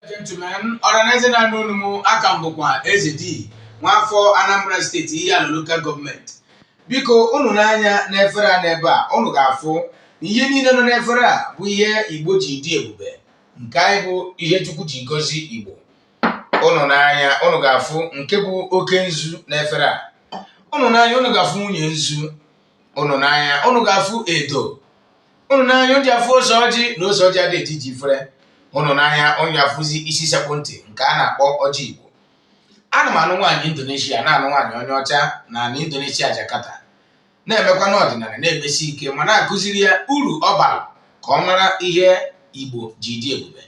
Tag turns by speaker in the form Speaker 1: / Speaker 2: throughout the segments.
Speaker 1: gentlemen ọranaeze na-anụ onu m aka m bụkwa eze di nwaafọ anambra steeti ihiala lokal gọọmenti biko unu nee anya n'efere a n'ebe a unu ga-afụ na ihe niile nọ n'efere a bụ ihe igbo ji dị ebube nke anyị bụ ihe chukwu ji gọzie igbo unu nee anya unu ga-afụ nke bụ oke nzu n'efere a unu nee anya unu ga-afụ nwunye nzu unu nee anya unu ga-afụ edo unu nee anya unu ga-afụ ose ọjị na ose ọjị adị eji ji fere unu nee anya unu ga-afụzi isi sekpụ ntị nke a na-akpọ ọjị igbo ana m anụ nwaanyị indonesia na-anụ nwaanyị onye ọcha na na indonesia jakarta na-emekwa n'ọdịnala na-emesi ike ma na-akụziri ya uru ọ bara ka ọ mara ihe igbo ji dị ebube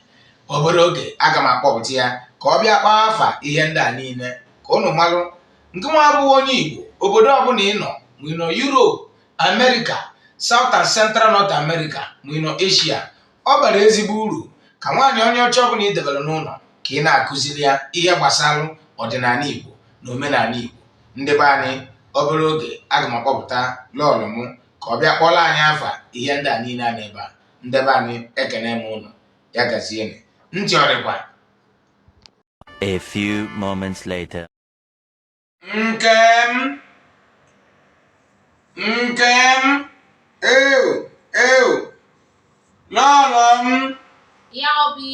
Speaker 1: obere oge aga m akpọpụta ya ka ọ bịa kpọọ afa ihe ndị a niile ka unu malụ ngị nwa bụ onye igbo obodo ọbụla ị nọ ma ị nọ yuropu America, South and Central North America ma ị nọ Asia ọ bara ezigbo uru ka nwaanyị onye ọcha ọbụla ị debere n'ụlọ ka ị na-akụziri ya ihe gbasara ọdịnala Igbo na omenala Igbo ndị be anyị obere oge aga m akpọpụta lọọlọ m ka ọ bịa kpọrọ anyị afa ihe ndị a niile a n'ebe a ndị be anyị ekene m unu ya gazienụ ntị ọ dịkwa A few moments later. nke m nke m eu eu lọọlọ m ya obi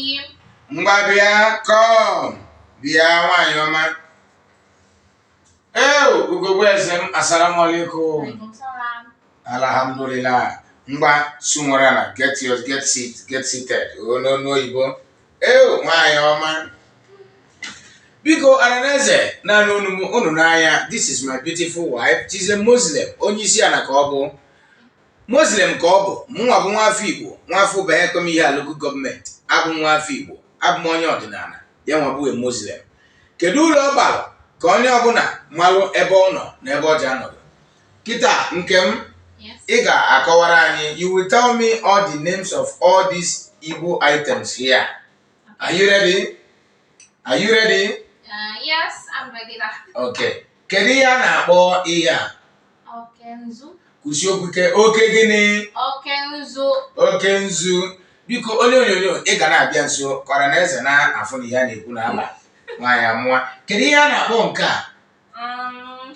Speaker 1: ngwa bịa come bịa nwanyị ọma eu ugogbe eze m asalamu alaikum Waalaikumsalam. alhamdulillah ngwa sunwara na get your get seat get seated n'onu oyibo ee nwaanyị ọma biko ọranaeze na-anụ onu m unu nee anya this is my beautiful wife she's a muslim onye isi ala ka ọ bụ muslim ka ọ bụ mụnwa bụ nwafọ igbo nwafọ ubahuekwem ihiala lokal gọọmenti abụ m nwafọ igbo abụ m onye ọdịnala ya nwa bụ a muslim kedu uru ọ bara ka onye ọbụla malụ ebe ọ nọ na ebe o ji anọdụ Kịta nke m, ị ga-akọwara anyị you will tell me all the names of all these Igbo items here. Are you ready? Are you ready? Uh, yes, I'm ready. Okay. Kedu ihe a na-akpọ ihe a? Oke nzu. Kwusie okwu ike. Oke gịnị? Oke nzu. Oke nzu. Biko onye onyonyo ị ga na-abịa nso ka ọranaeze na-afụ na ihe a na-ekwu na ama nwaanyị amụwa. Kedu ihe a na-akpọ nke a? Um,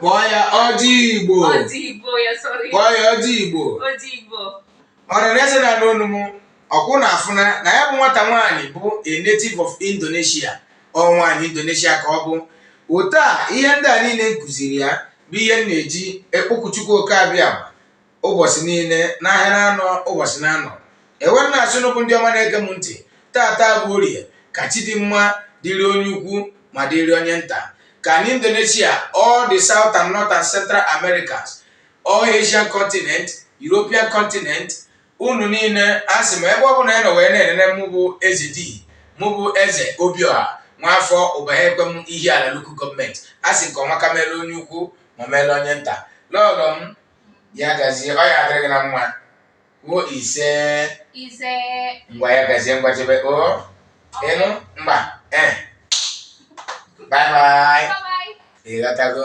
Speaker 1: Kpọọ ya ọjị Igbo. Kpọọ ya ọjị Igbo. Ọranaeze na-anụ onu m ọ kwa unu afụna na ya bụ nwata nwaanyị bụ a native of Indonesia ọ nwaanyị Indonesia ka ọ bụ otu a ihe ndị a niile m kụziri ya bụ ihe m na-eji ekpoku Chukwu oke abịa ụbọchị niile n'ahịa na-anọ ụbọchị na-anọ ewe m na-asị unu bụ ndị ọma na-ege m ntị taata bụ orie ka chi dị mma dịrị onye ukwu ma dịrị onye nta ka anyị indonesia all the south and north and central americas all asian continent european continent unu niile a sị m ebe ọ bụla onye nọ wee na-enene mụ bụ eze di mụ bụ eze obioha nwaafọ ubahuekwem ihiala local government a sị nke ọma ka mere onye ukwu ma mere onye nta lọlọ m ya gazie ọ ya-adịrị gị na mma kwuo ise ise ngwa ya gazie ngwa chebe o ịnụ mba e bye bye ị ghọtago